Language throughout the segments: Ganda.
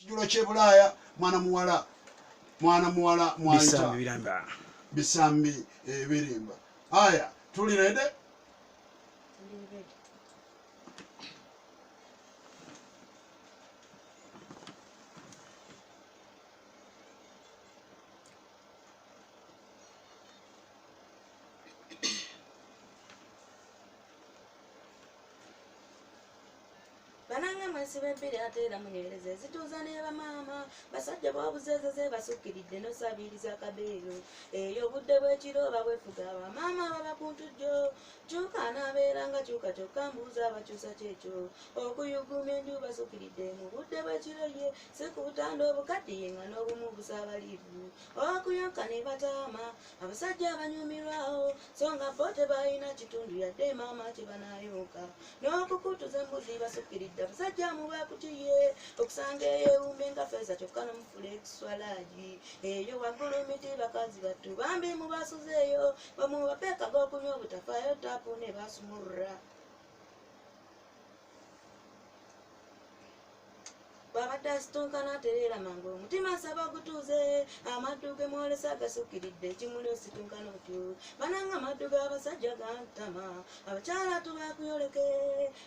kijjulo kyebulaaya mwana muwala mwana muwala mwayita bisambi ebirimba eh, aya tuli rede banange mwesiba ebbiri ate era munywereza ezituuza neba maama basajja babuzeezo zebasukkiridde nosabiiriza kabeeyo eyo obudde bwekiro oba bwefuga bamaama baba kuntujjo kyuka anaabeera nga kyuka kyokka mbuuza abakyusa kyekyo okuyuguma enju basukkiridde mu budde bwekiro ye si ku butanda obukaddiye nga n'obumu busabaliivu okuyoka ne bataama abasajja abanyumirwawo so nga bo tebalina kitundu yadde maama kyebanayonka n'okukutuza embuzi basukiridde abasajja mubakutiye okusanga eyo ewumbe nga feza kyokka nomufula ekiswalaji eyo waggulu miti bakazi battu bambi mubasuzeeyo bamubapeekaga okunywa obutafayo tapu ne basumurra bw'abadde asitunkana atereera mangu omutima nsaba gutuuze amaddu ge mwolesa gasukkiridde ekimuli ositunkana otyo bananga amaddu g'abasajja gantama abakyala tubakuyoleke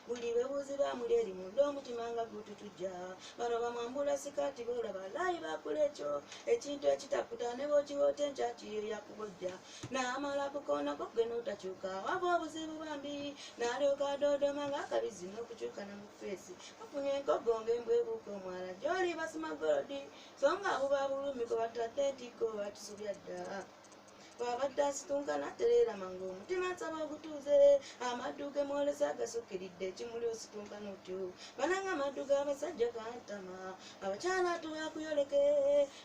buli bebuuzi bamuli eri munda omutima nga gututujja bano bamwambula sikaati boolaba laayi bakula ekyo ekintu ekitakuta ne bwokiwoota enkyakiyo yakubojja n'amala ku koona ko gwe n'otakyuka waba obuzibu bambi n'alyoka adoodoma ng'akabizzi n'okukyuka ne mu feesi afunye enkoggo ng'embwa ebuuka omwala gy'oli basima golodi so nga buba bulumi gwe batadde ntikko bakisubya dda bw'abadde asitunka n'atereera mangu omutima nsaba ogutuuze amaddu ge mwolesa agasukkiridde ekimuli ositunka n'otyo bananga amaddu g'abasajja gantama abakyala tubakuyoleke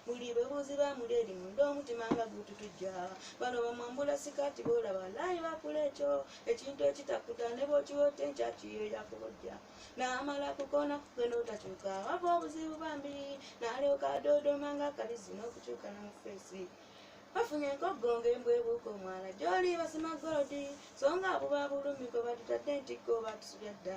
muli babuuzi ba muleeri munda omutima nga gututujja bano bamwambula sikaati boolaba laayi bakula ekyo ekintu ekitakuta ne bwokiwote nkyakiyo yakubojja naamala kukoona kugenda otakyuka wava obuzibu bambi naalyoka adoodoma nga akalizi n'okukyuka namufeesi bafunye enkoggongo embwebuuka omwana gyoli basima golodi so nga abuba bulumi kwe batutadde ntikko batusubya dda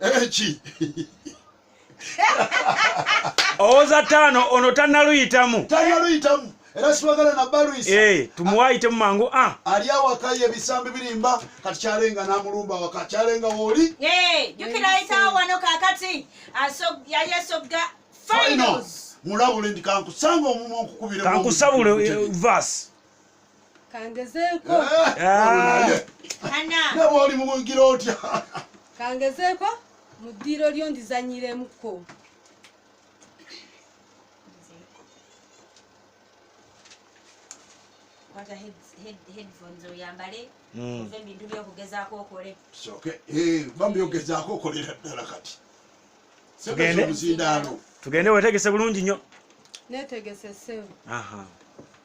eki owoza taano ono tanaluyitamu tanaluyitamu era sibagala nabalwisa eh, tumuwayitemu mangu a ah. ali awaka ye ebisambi birimba kati kyalenga namulumba waka kyalenga wooli eh, jukira ayitawo wano kakati yayesogga finals mulabule ndi kankusanga omumwa nkukubire kankusabule eh, vas kangezeeko nabwe oli mubugira otya kangezeeko mu ddiiro lyo ndizanyiremuko kwata headphones oyambale hmm. ove ebintu byokugezaako okole eh, bambi ogezaako okolera ddala kati tugende wetegese bulungi nnyo netegese sebu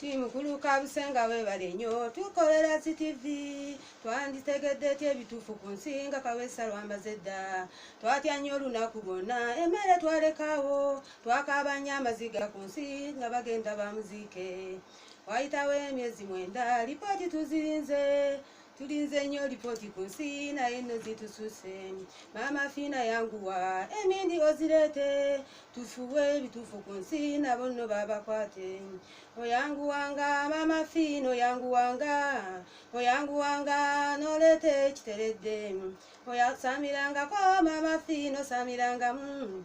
timukuluka busenga webale nyo tukolera ctv twanditegedde ety ebituufu ku nsi nga kawesa lwambaze dda twatya nnyo olunaku lwonna emmere twalekawo twakaaba nnyo amaziga ku nsi nga bagenda bamuziike wayitawo emyezi mwenda lipooti tuzirinze tulinze nnyo lipooti ku nsi naye nno zitususe maama fiina yanguwa emindi ozireete tufuwe ebituufu ku nsi nabo nno babakwate oyanguwanga maama fiina oyanguwanga oyanguwanga noleeta ekiteredde oyasamirangako maama fiina osamirangamu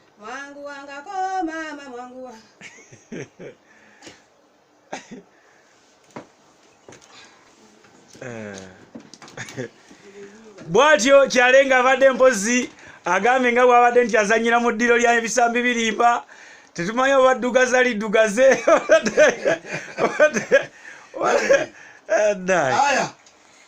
mwangu wangako mama mwangu wa Eh. bwatyo kyalenga abadde mpozi agambye nga bwabadde nti azanyira mu ddiro lya ebisambi birimba tetumanyi oba ddugaza liddugaze Aya.